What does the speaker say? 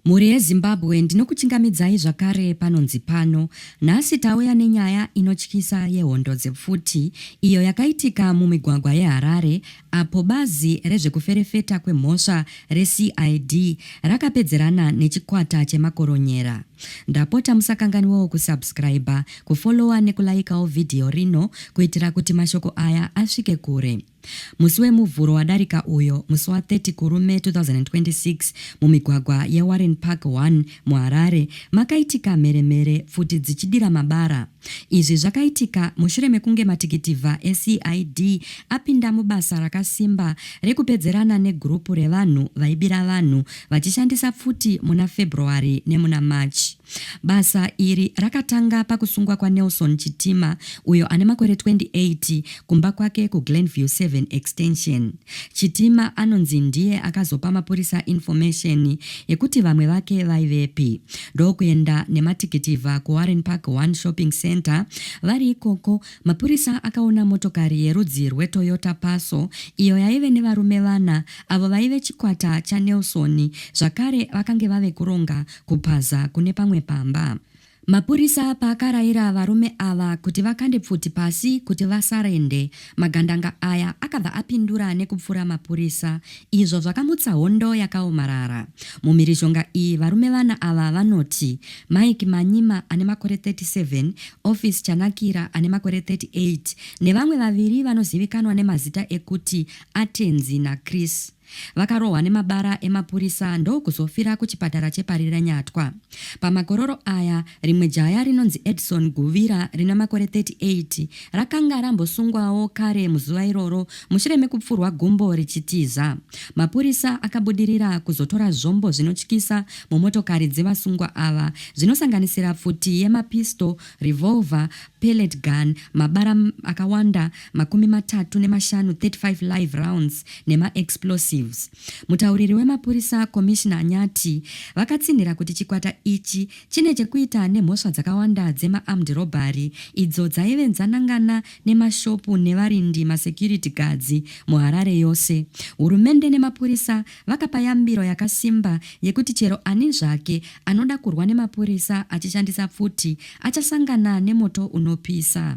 Mhuri yeZimbabwe ndinokuchingamidzai zvakare panonzi pano. Nhasi tauya nenyaya inotyisa yehondo dzepfuti iyo yakaitika mumigwagwa yeHarare apo bazi rezvekuferefeta kwemhosva reCID rakapedzerana nechikwata chemakoronyera. Ndapota musakanganwewo kusubscriber, kufollower nekulaikawo vhidhiyo rino kuitira kuti mashoko aya asvike kure. Musi weMuvhuro wadarika uyo, musi wa 30 Kurume 2026, mumigwagwa yeWarren Park 1, muHarare, makaitika mheremhere pfuti dzichidira mabara. Izvi zvakaitika mushure mekunge matikitivha eCID apinda mubasa rakasimba rekupedzerana negurupu revanhu vaibira vanhu vachishandisa pfuti muna February nemuna March. Basa iri rakatanga pakusungwa kwaNelson Chitima uyo ane makore 28 kumba kwake kuGlenview 7 Extension. Chitima anonzi ndiye akazopa mapurisa information yekuti vamwe vake vaivepi ndokuenda nematikitivha kuWarren Park One Shopping Center. Vari ikoko, mapurisa akaona motokari yerudzi rweToyota Passo iyo yaive nevarume vana avo vaive chikwata chaNelson zvakare vakange vave kuronga Kupaza kune pamwe pamba. Mapurisa paakaraira varume ava kuti vakande pfuti pasi kuti vasarende, magandanga aya akabva apindura nekupfura mapurisa izvo zvakamutsa hondo yakaomarara. Mumhirizhonga iyi varume vana ava vanoti Mike Manyima ane makore 37, Office Chanakira ane makore 38 nevamwe vaviri vanozivikanwa nemazita ekuti Atenzi naChris. Vakarohwa nemabara emapurisa ndokuzofira kuchipatara cheParirenyatwa. Pamakororo aya, rimwe jaya rinonzi Edson Guvira rine makore 38 rakanga rambosungwawo kare muzuva iroro mushure mekupfurwa gumbo richitiza. Mapurisa akabudirira kuzotora zvombo zvinotyisa mumotokari dzevasungwa ava zvinosanganisira pfuti yemapisto, revolver, pellet gun, mabara akawanda makumi matatu nemashanu 35 live rounds nemaexplosives. Mutauriri wemapurisa Commissioner Nyati vakatsinhira kuti chikwata ichi chine chekuita nemhosva dzakawanda dzemaarmed robbery idzo dzaive dzanangana nemashopu nevarindi masecurity guards muHarare yose. Hurumende nemapurisa vakapa yambiro yakasimba yekuti chero ani zvake anoda kurwa nemapurisa achishandisa pfuti achasangana nemoto unopisa.